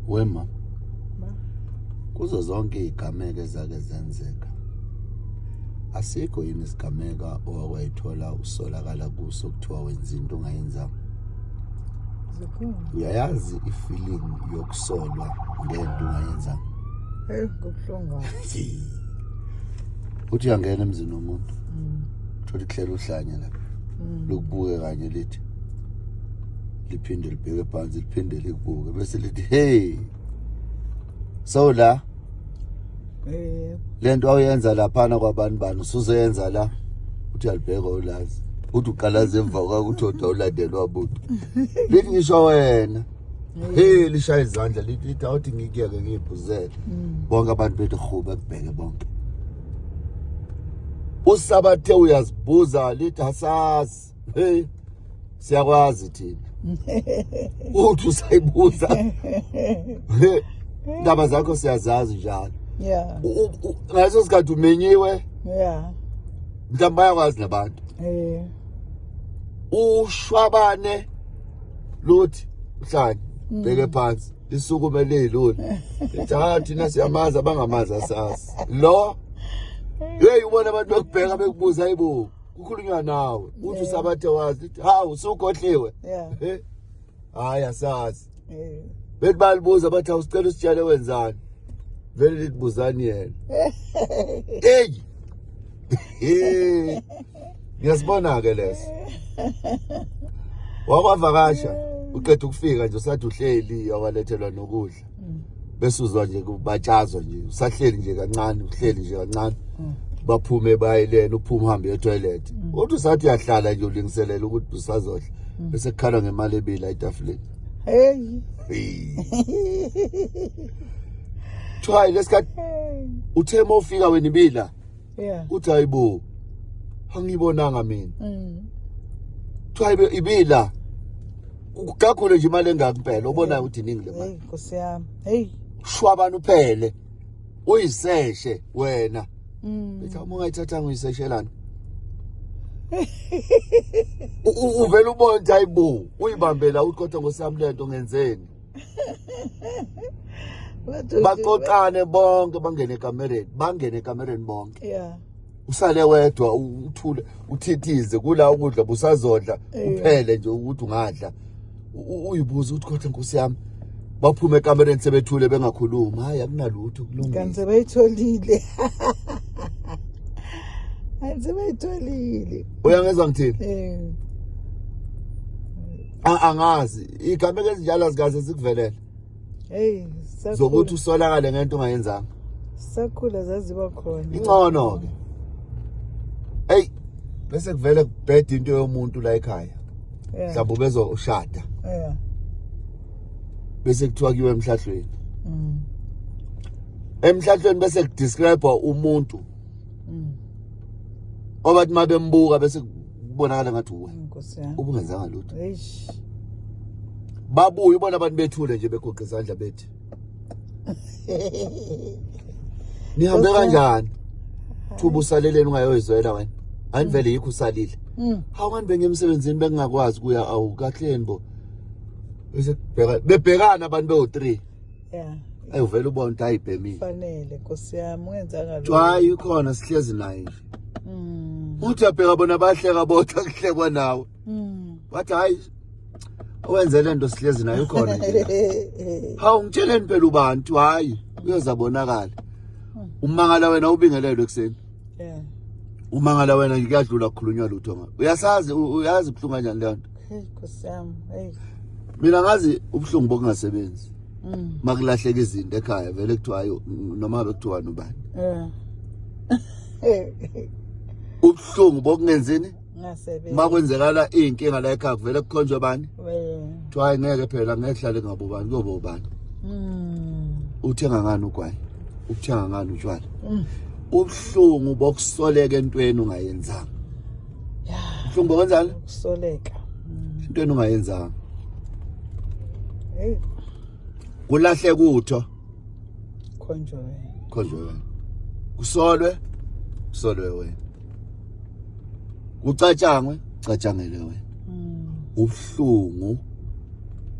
wema kuzo zonke izigameko ezake zenzeka asikho yini isigameka owakwayithola usolakala kuso kuthiwa wenza into ongayenzanga uyayazi ifeeling yokusolwa ngento ungayenzanga eyi kubuhlungu uthi uyangena emzini womuntu mm. thola ikuhlela uhlanya lapha mm. lokubuke kanye lithi liphinde libheke phansi liphinde likubuke bese lithi hey so la eh lento awuyenza laphana kwabantu bani usuzoyenza la uthi alibheka ulazi uthi uqalaza emva kwakho uthi oda ulandelwa buntu lithi ngisho wena hey lishaya izandla lithi lithi awuthi ngikuyeke ngiyibhuzele mm. bonke abantu bethi rhuba kubheke bonke usabathe uyazibuza lithi asazi hey siyakwazi thina uthi usayibuza indaba zakho siyazazi njalo yeah ngaso sikhathi umenyiwe yeah mhlawumbe bayakwazi nabantu eh ushwabane luthi mhlanje mm. bheke phansi lisukume lilula ethi ha thina siyamazi abangamazi asazi lo yeyi ubona abantu bekubheka bekubuza ayibo kukhulunywa nawe uthi usabathe wazi uthi hawu usugodliwe eh? hayi asazi eh. bethi balibuza bathi awusicela usitshele wenzani vele lithi buzani yena eyi ngiyasibona-ke leso wakwavakasha uqeda ukufika nje usathi uhleli awalethelwa nokudla mm. bese uzwa nje kubatshazwa nje usahleli nje kancane uhleli nje kancane mm. baphume bayilena uphume uhambe etoilet mm. uthi usathi uyahlala nje ulingiselela ukuthi usazodla mm. bese kukhala ngemali ebila etafuleni hey kuthiwa lesikhathi uthe uma ufika wena ibila yeah uthi hayibo angibonanga mina mm kuthiwa hayibo ibila kugakhule nje imali engaki impela obonayo ukuthi iningi le mali nkosi yami hey shwabana uphele uyiseshe wena mm bethi uma ungayithathanga uyiseshelana uvela ubona ukuthi hayibo uyibambela uthi kodwa ngosami lento ngenzeni baqoqane bonke bangene ekamereni bangene ekamereni bonke yeah usale wedwa uthule uthithize kula ukudla busazodla uphele nje ukuthi ungadla uyibuza ukuthi kodwa nkosi yami baphume ekamereni sebethule bengakhulumi hayi akunalutho kulungile kanti sebayitholile kanti sebayitholile uyangezwa ngithini eh angazi igameko ezinjalo azikaze zikuvelele hey zokuthi usolakale ngento ungayenzanga sakhula zaziba khona ingcono ke hey bese kuvele kubheda into yomuntu la ekhaya mhlawumbe bezoshada yeah bese kuthiwa kiwe emhlahlweni mm. emhlahlweni bese kudescribe umuntu mm. obathi mabembuka bese kubonakala ngathi uwe ubungenzanga lutho babuye ubona abantu bethule nje begoqa izandla bethi nihambe kanjani thuba usaleleni ungayoyizwela wena hayi vele yikho usalile hmm. hawu kanti bengemsebenzini bengingakwazi kuya awu kahleni bo bebhekana abantu bewu-three yeah ayi uvela ubona ukuthi ayibhemile fanele nkosi yami ungenzanga lo jwayi ukhona sihlezi naye nje mm. uthi abheka bona bahleka bodwa kuhlekwa nawe mm. wathi hayi owenze le nto sihlezi naye ukhona nje hawu ngitsheleni phela ubantu hayi uyozabonakala mm. umangala wena ubingelelwe ekuseni yeah umangala wena ngikuyadlula kukhulunywa lutho ngayo uyasazi uyazi buhlungu kanjani leyo nto Hey Nkosi yami, hey. Mina ngazi ubuhlungu bokungasebenzi. Mm. Makulahleka izinto ekhaya vele kuthiwa ayo noma bekuthiwa nobani. Yeah. Ubuhlungu bokungenzini? Ngasebenzi. Makwenzekala inkinga la ekhaya vele kukhonjwe bani? Wena. Kuthiwa ngeke phela ngeke hlale ngabobani kobobani. Mm. Uthenga ngani ugwayi? Uthenga ngani utshwala? Mm. Ubuhlungu bokusoleka entweni ungayenzanga. Mhlumbo kanjani? Usoleka. Into enungayenzanga. Hey. Kulahle kutho. Khonjwe wena. Khonjwe wena. Kusolwe. Kusolwe wena. Kucatshangwe, catshangele wena. Mm. Ubuhlungu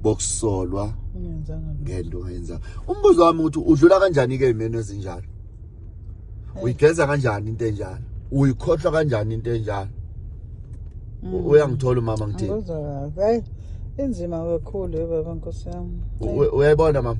bokusolwa ngento ongayenzanga. Umbuzo wami ukuthi udlula kanjani ke imeno ezinjalo? uyigeza kanjani into enjalo uyikhohlwa kanjani into enjalo mm. uyangithola umama ngithini hey inzima kakhulu baba nkosi yami uyayibona mama